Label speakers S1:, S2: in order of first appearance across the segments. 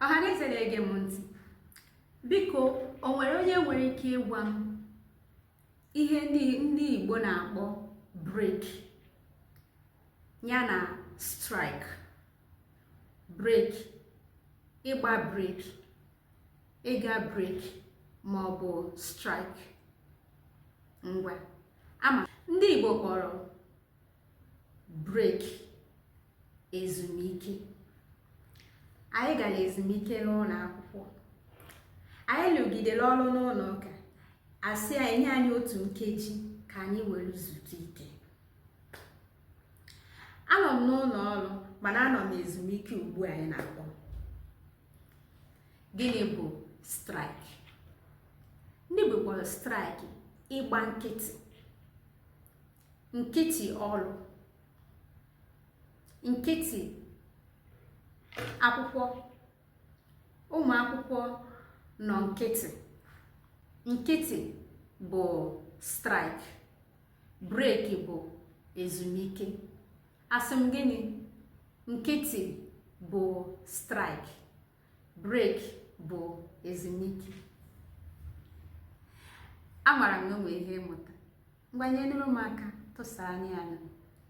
S1: ọhaneze na-ege m ntị biko o nwere onye nwere ike ịgwa m ihe ndị igbo na-akpọ break ya na strike break ịgba break ịga break ma ọ bụ strike ngwa ama ndị igbo kpọrọ break ezumike anyị gara ezumike n'ụlọ akwụkwọ anyị lụgidere ọrụ n'ụlọ ụka a sị e nye anyị otu nkeji ka anyị were zutu ike anọ m n'ụlọ ọrụ mana anọ m ezumike ugbu a anyị na-akpọ gịnị bụ strike ndị Igbo kpọrọ strike ịgba nkịtị nkịtị ọrụ nkịtị akwụkwọ ụmụ akwụkwọ nọ nkịtị nkịtị bụ strike breki bụ ezumike asị m gịnị nkịtị bụ strike breki bụ ezumike amara m na o nwe ihe ị mụta ngwa nyenụrụ m aka tụsara anyị anya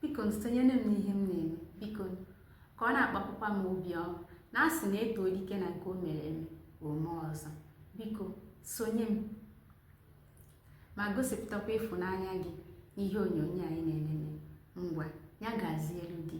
S1: biko sonyere m n'ihe m na-eme biko ka ọ na-akpapụkwa m obi ọma na a sị na e too dike na nke o mere eme o mee ọzọ biko sonye m ma gosipụtakwa ịfụnanya gị n'ihe onyonyo anyị na-enene ngwa ya gazielu gị